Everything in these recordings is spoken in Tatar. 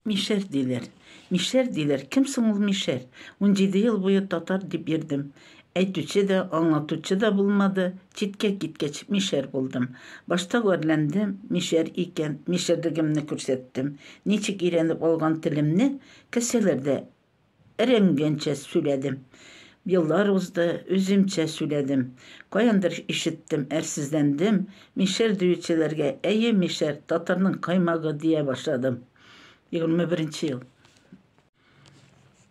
Мишәр диләр. Мишәр диләр. Кем соң ул Мишәр? Унҗиде ел буе татар дип йөрдем. Әйтүче дә, аңлатучы да булмады. Читкә киткәч, мишәр булдым. Башта гарьләндем, мишәр икән, мишәрлегемне күрсәттем. Ничек өйрәнеп алган телемне кәсәләр дә Эренгәнчә сүләдем. Еллар узды, үземчә сүләдем. Каяндыр ишеттем, әрсезләндем. Мишәр диючеләргә, әйе, мишәр, татарның каймагы, дия башладым. Егерме беренче ел.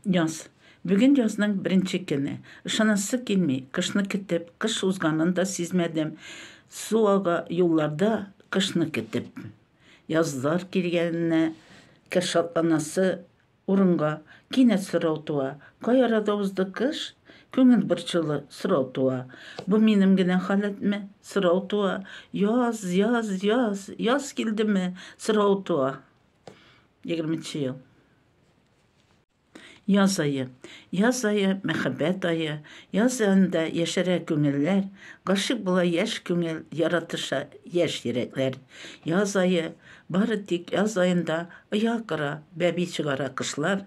Яз. Бүген язның беренче көне. Ышанасы килми, кышны көтеп, кыш узганын да сизмәдем. Су ага юлларда, кышны көтеп. Язлар килгәненә кер шатланасы Урынга кинәт сорау туа, Кай арада узды кыш? Күңел борчулы сорау туа, Бу минем генә халәтме? Сорау туа, Яз, яз, яз, яз килдеме? Сорау туа. Егерме нче ел. Яз ае. Яз ае, мәхәббәт ае. Яз аенда яшәрә күңелләр, Гашыйк була яшь күңел, Яратыша яшь йөрәкләр. Яз ае, Бары тик яз аенда оя кыра, бәби чыгара кышлар,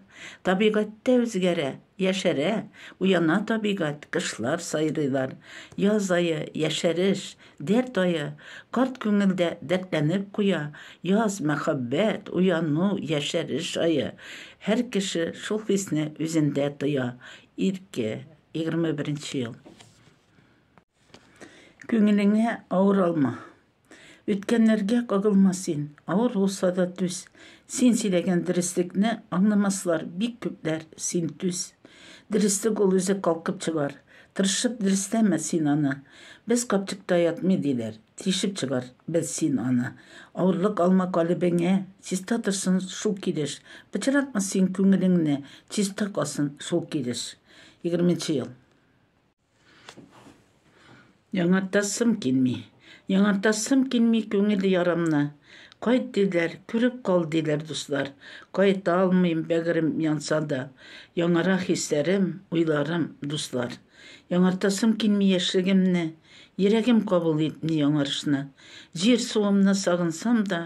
табигатьтә үзгәрә, яшәрә, уяна табигать, кышлар сайрыйлар. Яз ае, яшәреш, дәрт ае, карт күңелдә дәртләнеп куя, яз, мәхәббәт, уяну, яшәреш ае. Һәр кеше шул хисне үзендә тоя. Ирке, егерме беренче ел. Күңелеңә авыр алма. Үткәннәргә кагылма син, авыр булса да түз. Син сөйләгән дөреслекне аңламаслар бик күпләр, син түз. Дөреслек ул үзе калкып чыгар. Тырышып дөресләмә син аны. Без капчыкта ятмый диләр, тишеп чыгар без син аны. Авырлык алма калебеңә, чиста торсын шул килеш. Пычратма син күңелеңне, чиста калсын шул килеш. Егерменче ел. Яңартасым килми. Яңартасым килми күңел ярамны. Кайт диләр, күреп кал диләр дуслар. Кайта алмыйм, бәгырем янса да. Яңара хисләрем, уйларым, дуслар. Яңартасым килми яшьлегемне. Йөрәгем кабул итми яңарышны. Җир-суымны сагынсам да,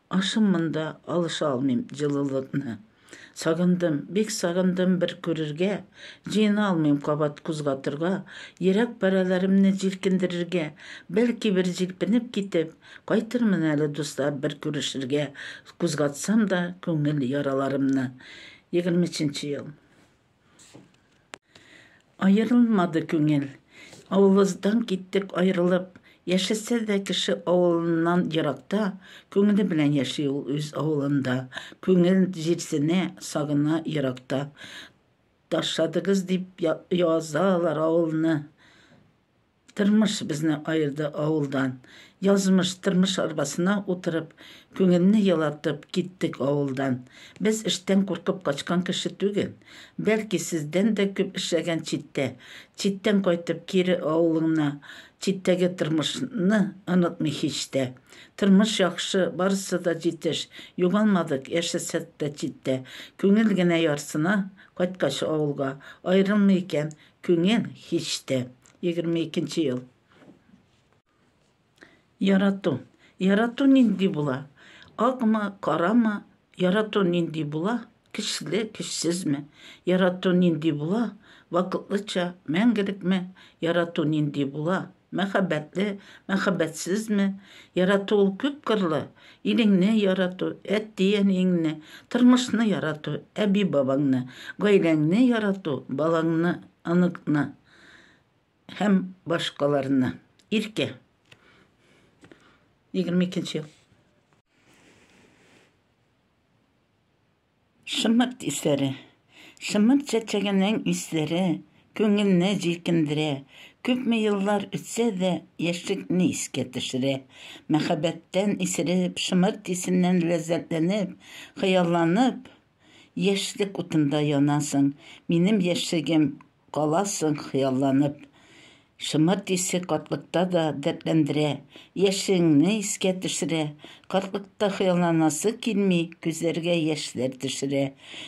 ашым монда, алыша алмыйм җылылыкны. Сагындым, бик сагындым бер күрергә, Җыена алмыйм кабат күз катырга, Йөрәк парәләремне җилкендерергә, Бәлки бер җилпенеп китеп, Кайтырмын әле, дуслар, бер күрешергә, Күз катсам да күңел яраларымны. Егерме өченче ел. Аерылмады күңел. Авылыздан киттек аерылып, Яшәсә дә кеше авылыннан еракта, Күңеле белән яши ул үз авылында, Күңел җирсенә, сагына еракта. Ташладыгыз дип язалар авылны. Тормыш безне аерды авылдан. Язмыш, тормыш арбасына утырып, Күңелне елатып, киттек авылдан. Без эштән куркып качкан кеше түгел. Бәлки, сездән дә күп эшләгән читтә. Читтән кайтып, кире авылыңна, Читтәге тормышны онытмый һич тә. Тормыш яхшы, барысы да җитеш, Югалмадык, яшәсәк тә читтә. Күңел генә ярсына, кайткач авылга, Аерылмый икән күңел һич тә. 22 нче ел. Ярату. Ярату нинди була? Акмы, карамы? Ярату нинди була? Көчле, көчсезме? Ярату нинди була? Вакытлыча, мәңгелекме? Ярату нинди була? Мәхәббәтле, мәхәббәтсезме? Ярату ул күп кырлы. Илеңне ярату, әти-әниеңне, тормышны ярату, әби-бабаңны, гаиләңне ярату, балаңны, оныкны. һәм башкаларны. Иркә. 22 ел. Шымырт исләре. Шымырт чәчәгенең исләре күңелне җилкендерә. Күпме еллар үтсә дә, яшьлекне искә төшерә. Мәхәббәттән исереп, шымырт исеннән ләззәтләнеп, хыялланып, яшьлек утында янасың. Минем яшьлегем Каласың хыялланып. Шомырт исе картлыкта да дәртләндерә, яшьлегеңне искә төшерә. Картлыкта хыялланасы килми, күзләргә яшьләр төшерә.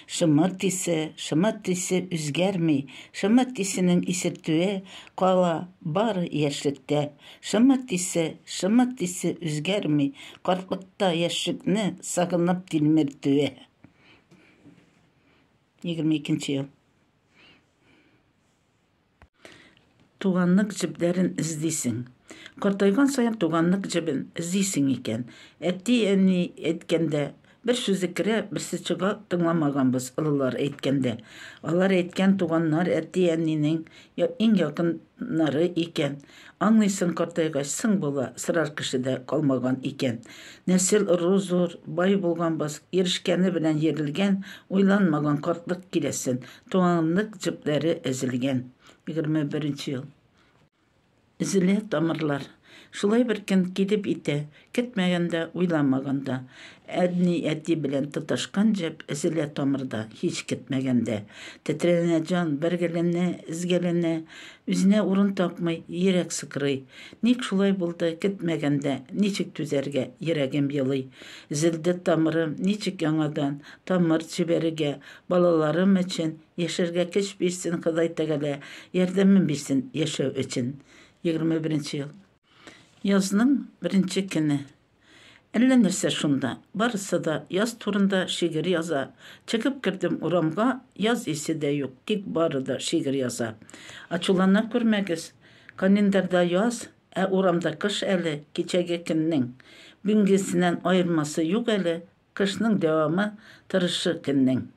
Шомырт исе, шомырт исе үзгәрми, шомырт исенең исертүе кала бары яшьлектә. Шомырт исе, шомырт исе үзгәрми, картлыкта яшьлекне сагынып тилмертүе. Егерме икенче ел. Туганлык җепләрен эзлисең. Картайган саен туганлык җебен эзлисең икән. Әти-әни әйткәндә, бер сүзе керә, берсе чыга, тыңламаганбыз олылар әйткәндә. Алар әйткән туганнар әти-әнинең иң якыннары икән. Аңлыйсын картайгач, соң бала, сорар кеше дә калмаган икән. Нәсел ыру зур, бай булганбыз, ирешкәне белән йөрелгән, уйланмаган картлык киләсен, туганлык җепләре өзелгән. Егерме беренче ел. Өзелә тамырлар. Шулай бер көн килеп итә, Көтмәгәндә, уйламаганда. Әдни-әти белән тоташкан җеп Өзелә тамырда, һич көтмәгәндә. Тетрәнә җан, бәргәләнә, өзгәләнә. Үзенә урын тапмый, йөрәк сыкрый. Ник шулай булды, көтмәгәндә? Ничек түзәргә, йөрәгем елый. Өзелде тамырым, ничек яңадан Тамыр җибәрергә? Балаларым өчен Яшәргә көч бирсен Ходай тәгалә, Ярдәмен бирсен яшәү өчен. Егерме беренче ел. Язның беренче көне. Әллә нәрсә шунда. Барысы да яз турында шигырь яза. Чыгып кердем урамга, яз исе дә юк, тик бары да шигырь яза. Ачулана күрмәгез. Календарьда яз, ә урамда кыш әле, кичәге көннең. Бүгенгесеннән аермасы юк әле, кышның дәвамы, тырышы көннең.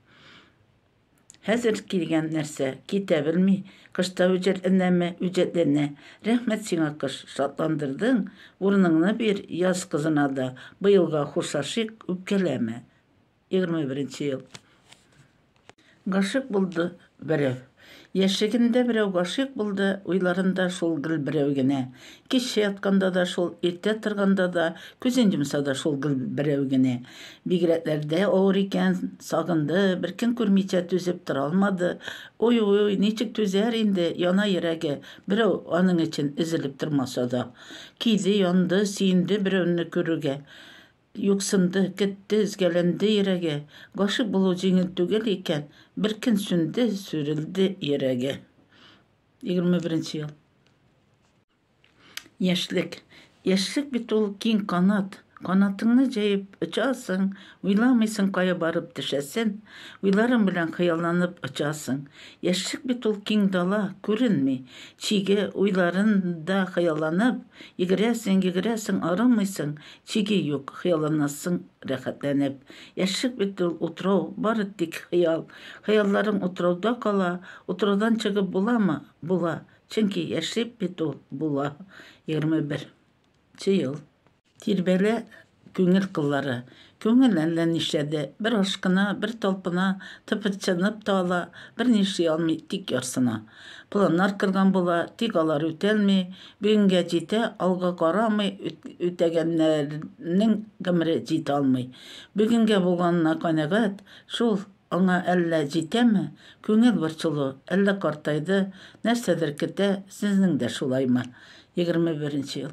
Хәзер килгән нәрсә, китә белми, кышта үҗәтләнәме, үҗәтләнә. Рәхмәт сиңа, кыш, шатландырдың, урыныңны бир яз кызына да, быелга хушлашыйк, үпкәләмә. Егерме беренче ел. Гашыйк булды берәү. Яшьлегендә берәү гашыйк булды, уйларында шул гел берәү генә. Киччә ятканда да шул, иртә торганда да, күзен йомса да шул гел берәү генә. Бигрәкләрдә авыр икән, сагынды, беркем күрмичә түзеп тора алмады. Уй-уй, ничек түзәр инде, яна йөрәге, берәү аның өчен өзелеп тормаса да. Көйде, янды, сөенде берәүне күрүгә. Юксынды, көтте, өзгәләнде йөрәге. Гашыйк булу җиңел түгел икән, беркөн сүнде, сүрелде йөрәге. 21 ел. Яшьлек. Яшьлек бит ул киң канат. Канатыңны җәеп очасың, уйламыйсың кая барып төшәсен, уйларың белән хыялланып очасың. Яшьлек бит ул киң дала, күренми. Чиге, уйларын да хыялланып, йөгерәсең, йөгерәсең, арымыйсың, чиге юк, хыялланасың рәхәтләнеп. Яшьлек бит ул, утрау, бары тик хыял. Хыялларың утрауда кала, утраудан чыгып буламы? Була, чөнки яшьлек бит ул, була. Егерме бер нче ел. Тирбәлә күңел кыллары. Күңел әллә нишләде, бер ашкына, бер талпына, тыпырчынып та ала, берни эшли алмый, тик ярсына. Планнар кырган була, тик алар үтәлми, бүгенгә җитә, алга карамый, үтәгәннәрнең гомере җитә алмый. Бүгенгә булганына канәгать шул, аңа әллә җитәме? Күңел борчылу, әллә картайды, нәрсәдер көтә, сезнең дә шулаймы? Егерме беренче ел.